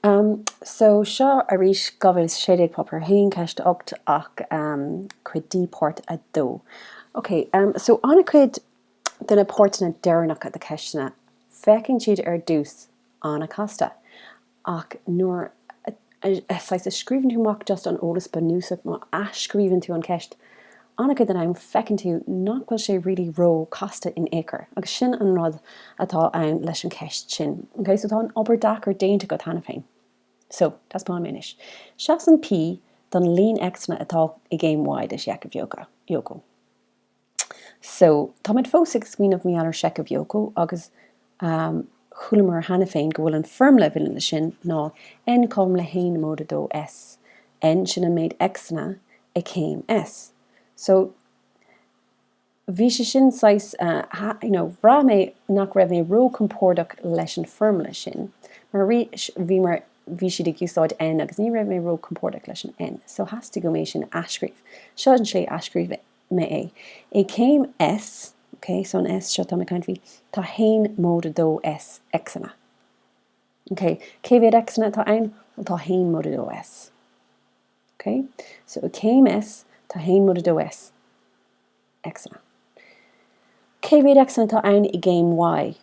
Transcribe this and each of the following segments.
Um, so, seo arís, 2016, Páipéar 1, Ceist 8, ach um, cuid D, Páirt 2. Ok, um, so, an-chuid de na páirteanna deireanacha de ceisteanna, féachann siad ar dtús an-chasta, ach nuair a, a, a, saghas, a scríobhann tú amach just an eolas bunúsach, nó a athscríobhann tú an cheist, An-chuid den am feiceann tú nach bhfuil sé really ró casta in ao'chor agus sin an rud atá ann leis an cheist sin. Okay so tá an obair deacair déanta agat cheana féin. So, taispeánaim anois. Seasann P don líon X-anna atá i gcéim Y de Sheicheamh Yoko. So, táimid fós ag smaoineamh mar gheall ar Sheicheamh Yoko agus fuaireamar cheana féin, go bhfuil an foirmle a bhaineann leis sin ná N cothom le haon móide a dó S. N, sin an méid Xanna i gcéim S. So, bhí sé sin saghas, you know, bhraith mé nach raibh mé ró-compordach leis an foirmle sin, mar arís, bhí mar, bhí siad ag úsáid N agus ní raibh mé ró-compordach leis an N. So, theastaigh uaim é sin a athscríobh. Seo an slí a athscríobh mé. mé é. I gcéim S, ok, so an S seo, tá mé ag caint faoi, tá haon móide a dó S X-anna. Ok, cé mhéad X-anna atá ann? Bhuel, tá haon móide a dó S. Ok, so i gcéim S, tá haon móide a dó S X-anna. Cé mhéad X-anna atá ann i gcéim Y?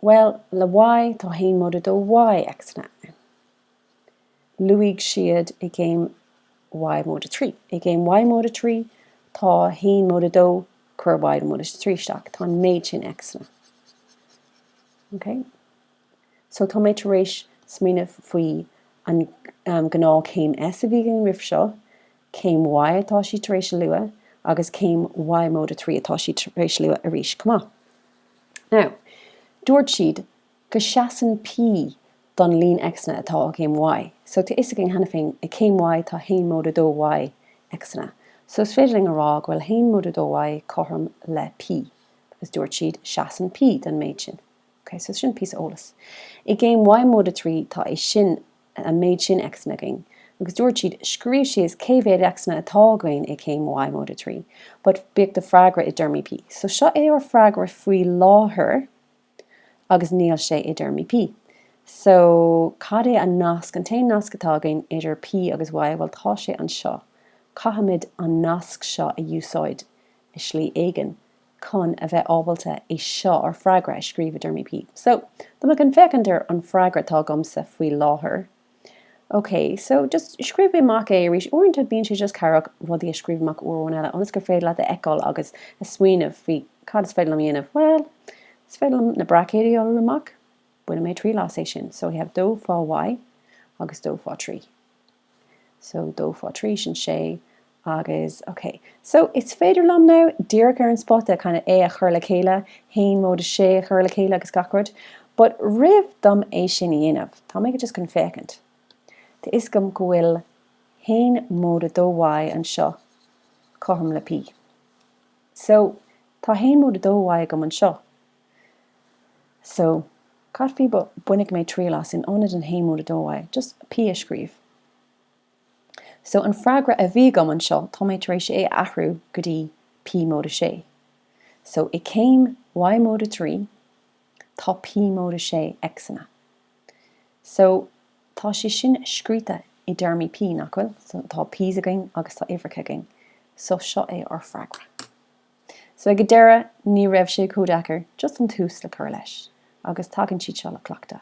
Bhuel, le Y, tá haon móide a dó Y X-anna ann. luaigh siad i gcéim Y móide a trí. I gcéim Y móide a trí, tá 1 móide a dó, cuir Y móide a trí isteach, tá an méid sin X-anna. Okay? So tá mé tar éis smaoineamh faoi an um, gnáth céim S a bhí againn roimh seo, céim Y atá siad tar éis a lua, agus céim Y móide a trí atá siad tar éis lua arís chomh maith. Now, dúirt siad go seasann P don líon X-anna atá i gcéim Y. So tá fhios againn cheana féin i gcéim Y tá haon móide a dó Y X-anna. So is féidir linn a rá go bhfuil haon móide a dó Y cothrom le P because dúirt siad seasann P don méid sin. Ok, so sin píosa eolas. I gcéim Y móide a trí tá é sin, an méid sin X-anna againn agus dúirt siad, scríobh síos cé mhéad X-anna atá againn i gcéim Y móide a trí but bíodh do freagra i dtéarmaí P. So seo é ár freagra faoi láthair. agus níl sé i dtéarmaí P. So, cad é an nasc, an t-aon nasc atá againn idir P agus Y? Bhuel, tá sé anseo. Caithfimid an nasc seo a úsáid i slí éigin chun a bheith ábalta é seo, ár freagra, a scríobh i dtéarmaí P. So, dá mba rud é go bhféachann tú ar an freagra atá agamsa faoi láthair, OK, so, just, scríobh amach é arís. Uaireanta bíonn sé just cabhrach rudaí a scríobh amach uair amháin eile ionas gur féidir leat a fheiceáil agus a smaoineamh faoi cad is féidir liom a dhéanamh. Bhuel, is féidir liom na braicéid a iolrú amach. Bainfidh mé triail as é sin. So, I have dó fá Y agus dó fá trí. So, dó fá trí, sin sé, Agus, ok, so is féidir liom now díreach ar an spota kind of é a chur le chéile haon móide sé a chur le chéile agus gach rud, but roimh dom é sin a dhéanamh, tá mé ag just kind of féachaint. Tá fhios agam go bhfuil haon móide dó Y anseo cothrom le P. So, tá haon móide dó Y agam anseo. So, cad faoi má bhainfeadh mé triail as in ionad an haon móide dó Y, just P a scríobh. So, an freagra a bhí agam anseo, tá mé tar éis é a athrú go dtí P móide sé. So, i gcéim Y móide trí, tá P móide sé X-anna. So, tá sé sin scríte i dtéarmaí P, nach bhfuil? So, tá P's againn agus tá uimhreacha againn. So, seo é ár bhfreagra. So, ag an deireadh, ní raibh sé chomh deacair just an tús le cur leis. Agus tagann siad seo le cleachtadh.